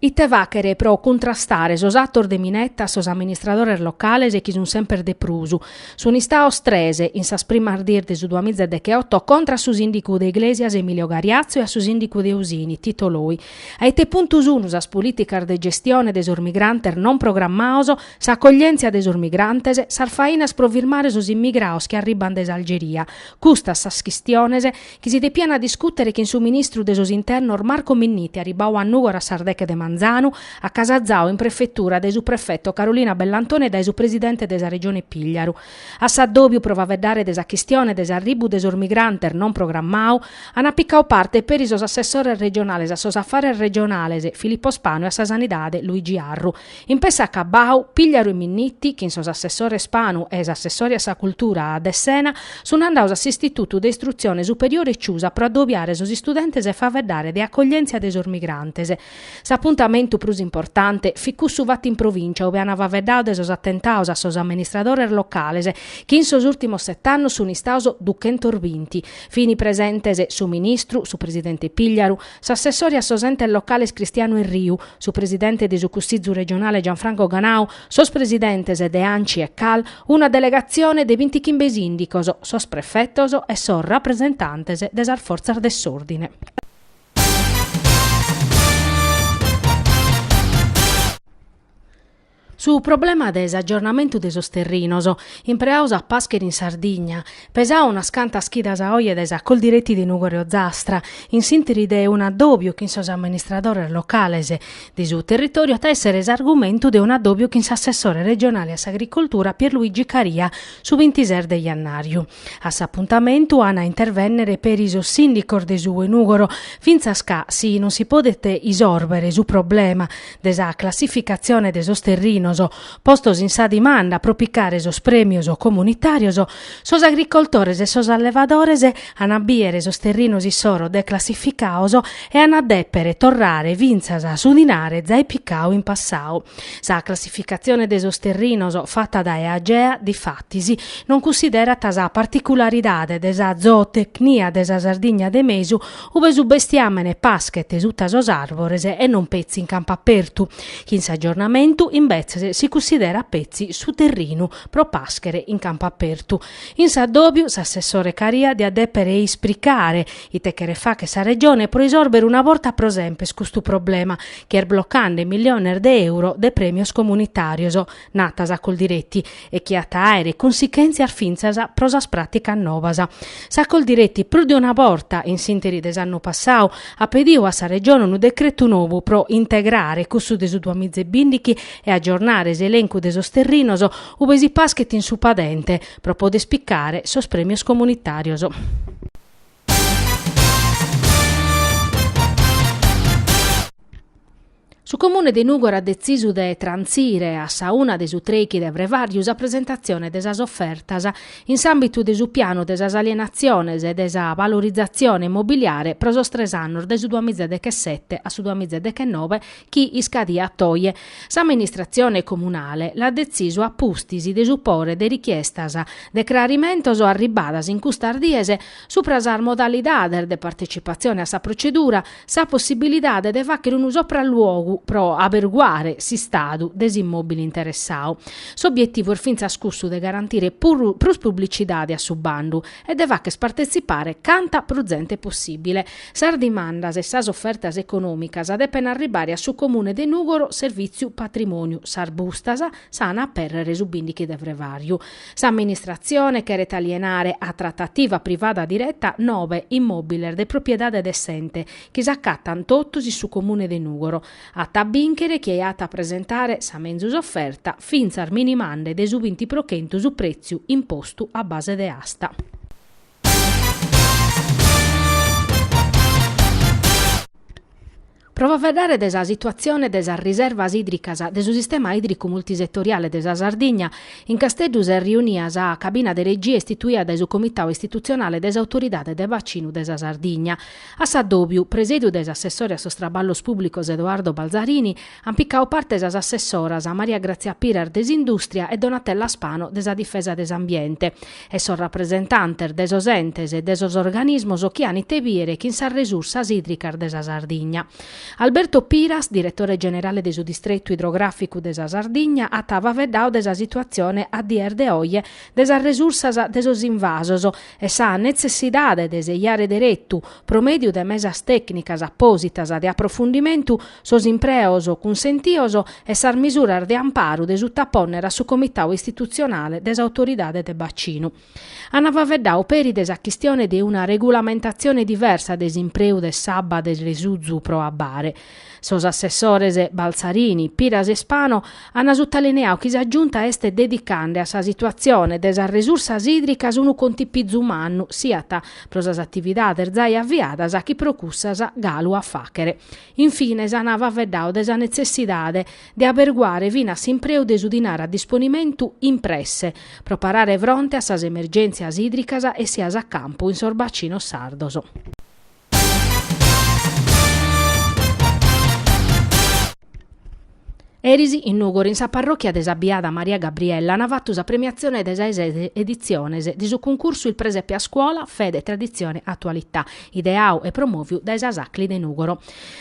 Ite fàghere pro cuntrastare sos atos de minetta a sos amministradores locales chi sun semper de prus. Sun istados tres, in sas primas dies de su duamiza e decheoto, contra a su sìndigu de Iglesias Emilio Gariazzo e a su sìndigu de Usini Tito Loi. A ite puntu sun sas polìticas de gestione de sos migrantes non programmados, s'acoglièntzia de sos migrantes, sas fainas pro firmare sos immigrados chi arribant dae s'Algeria? Custas sas chistiones chi si depiana discùtere chin su ministru de sos Internos Marco Minniti arribau a Nùgoro a sas deche de manzanu, acasazau in prefetura dae su prefetu Carolina Bellantoni e dae su presidente de sa Regione Pigliaru. A s'addòbiu pro faveddare de sa chistione de s'arribbu de sos migrantes non programmau, ana picau parte peri sos assessores regionales a sos Affares Regionales Filippo Spanu e a sa Sanidade Luigi Arru, In pessa acabbau, Pigliaru e Minniti, chin s'assessore Spanu e s'assessore a sa Cultura Dessena, sun andados a s'Istitutu de Istrutzione Superiore Ciusa pro addobiare sos istudentes e faveddare de accoglienzia de sos migrantes. S'apuntamentu prus importante fit cussu fatu in Provincia ue an faveddadu de sos attentados a sos amministradores locales chi in sos ultimos sett'annos sun istados duchentos binti. Fini presentes su Ministru, su Presidente Pigliaru, s'assessore a sos Entes Locales Cristiano Erriu, su presidente de su Cussizu Regionale Gianfranco Ganau, sos presidentes de Anci e Cal, una delegatzione de bintichimbe sìndicos, sos prefetos e sos rapresentantes de sas fortzas de s'òrdine. Su problema de s'aggiornamentu de sos terrinos impreados a pàschere in Sardigna, pesadu unas cantas chidas a oje dae sa Coldiretti de Nùgoro e Ozastra, in s'interi de un'addòbiu chin sos amministradores locales de su territòriu, at a èssere s'argumentu de un'addòbiu chin s'assessore regionale a s'agricoltura Pierluigi Caria su bintises de jannàriu. A s'apuntamentu an a intervènnere peri sos sìndicos de su 'e Nùgoro, fintzas ca si non si podet isòrbere su problema de sa classificatzione de sos terrinos postos in sa dimanda pro picare sos prèmios comunitàrios, sos agricoltores e sos allevadores an a bìdere sos terrinos issoro declassificados e an a dèpere torrare fintzas su dinare zai picadu in passadu. Sa classificatzione de sos terrinos fata dae Agea, difatis, non cunsiderat sa particularidade de sa zootecnia de sa Sardigna de mesu, ube su bestiàmene paschet suta sos àrbores e non petzi in campu apertu, chi in s'agiornamentu, imbetzes, si cunsiderat petzi su terrinu pro pàschere in campu apertu. In s'addòbiu, s'assessore Caria diat dèpere ispricare, Ite cheret fagher sa Regione pro isòrbere una borta pro semper custu problema chi est blocande miliones de euro de prèmios comunitàrios, nat sa Coldiretti, e chi at a àere consichèntzias fintzas pro sas pràticas noas. Sa Coldiretti prus de una borta, in s'ìnteri de s'annu passadu, at pedidu a sa Regione unu decretu nou pro integrare cussu de su duas miza e bindighi e agiornare s'elencu de sos terrinos ue si paschet in su padente pro poder spicare sos prèmios comunitàrios. Su Comune de Nùgoro at detzisu de trantzire a sa una de su Trèichi de Frevàriu sa presentatzione de sas ofertas in s'àmbitu de su pianu de sas alienatziones e de sa valorizatzione immobiliare pro sos tres annos de su duamìzedechesete a su duamìzedechenove chi iscadiat oje. S'amministratzione comunale l'at detzisu a pustis de supore de richiestas de crarimentos arribbadas in custas dies subra sas modalidades de partetzipatzione a sa protzedura, sa possibilidade de fàghere unu sopralluogu pro aberguare s'istadu de s'immòbile interessadu. S'obietivu est fintzas cussu de garantire prus publicidade a su bandu e de fàghere partetzipare canta prus zente possìbile. Sas dimandas e sas ofertas econòmicas depen arribare a su Comune de Nùgoro Servìtziu Patrimòniu sas bustas s'an a apèrrere su bìndighi de frevàriu. S'amministratzione cheret alienare a tratativa privada direta nobe immòbiles de propriedade de s'ente chi s'acatan totus in su Comune de Nùgoro. At a bìnchere chie at a presentare sa menzus oferta fintzas minimande de su binti pro chentu su prètziu impostu a base de asta. Pro faeddare de sa situatzione de sas riservas ìdricas de su sistema ìdricu multisetoriale de sa Sardigna, in Casteddu s'est riunia sa cabina de regia istituida dae su Comitau Istitutzionale de s'Autoridade de Bacinu de sa Sardigna. A s'addòbiu, presediu dae s'assessore a sos traballos pùblicos Edoardo Balzarini, ant picadu parte sas assessoras Maria Grazia Piras de s'Indùstria e Donatella Spano de sa Difesa de s'Ambiente. e sos rapresentantes de sos entes e de sos organismos chi an ite bìdere chin sas resursas ìdricas de sa Sardigna. Alberto Piras, diretore generale de su Distretu Idrogràficu de sa Sardigna, at faveddadu de sa situatzione a dies de oje de sas resursas de sos invasos e sa netzessidade de sejare deretu, pro mèdiu de mesas tècnicas apòsitas de aprofundimentu, sos impreos cunsentios e sas misuras de amparu de suttapònnere a su comitadu istitutzionale de s'Autoridade de Bacinu. Ant faveddadu peri de sa chistione de una regulamentatzione diversa de s'impreu de s'abba de resuzu pro abbare. Sos assessores Balzarini, Piras e Spano ant sutalineadu chi sa Giunta est dedicande a sa situatzione de sas resursas ìdricas unu contipizu mannu siat pro sas atividades zai aviadas chi pro cussas galu a fàghere. In fines an faveddadu de sa netzessidade de aberguare finas s'impreu de su dinare a disponimentu in presse pro parare fronte a sas emergèntzias ìdricas essias a campu in sos bacinos sardos. Eris in Nùgoro, in sa parròchia de sa Biada Maria Gabriella, ant fatu sa premiatzione de sa eses editziones de su cuncursu Il presepe a scuola, fede, tradizione, attualità, ideadu e promòviu dae sas Acli de Nùgoro.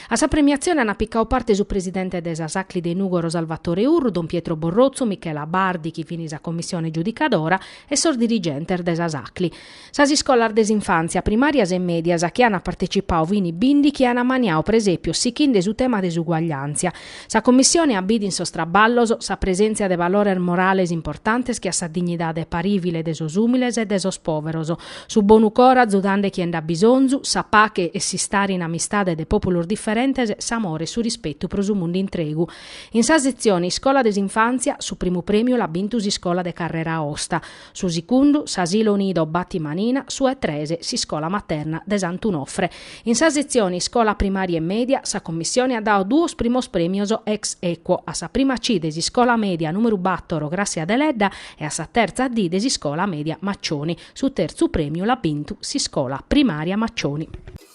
A sa premiatzione ant picadu parte su presidente de sas Acli de Nùgoro Salvatore Urru, don Pietro Borrotzu, Michela Bardi, chi fin sa commissione giudicadora, e sos dirigentes de sas Acli. Sas iscolas de s'infàntzia, primàrias e mèdias chi ant partecipadu fini bìndichi. Ant maniadu presèpios sichende su tema de s'uguagliàntzia. Sa Commissione at bidu in sos traballos sa presèntzia de valores morales importantes che a sa dignidade parìvile de sos ùmiles e de sos pòveros, su bonu coro azudande chie nd'at bisonzu, sa pache e s'istare in amistade de pòpulos diferentes, s'amore e su rispetu pro su mundu intregu. In sa setzione Iscola de s'infàntzia su primu prèmiu l'at bintu s'iscola de Carrera Aosta. Su sicundu, s'Asilo Nido Batti Manina, su 'e tres, s'Iscola Materna de Sant'Unofre. In sa setzione Iscola Primaria e Media, sa Commissione at dadu duos primos prèmios ex aequo a sa prima C de s'Iscola Media numeru batoro Grassia Deledda e a sa terza D de s'Iscola Media Maccioni. Su terzu prèmiu l'at bintu s'Iscola Primaria Maccioni.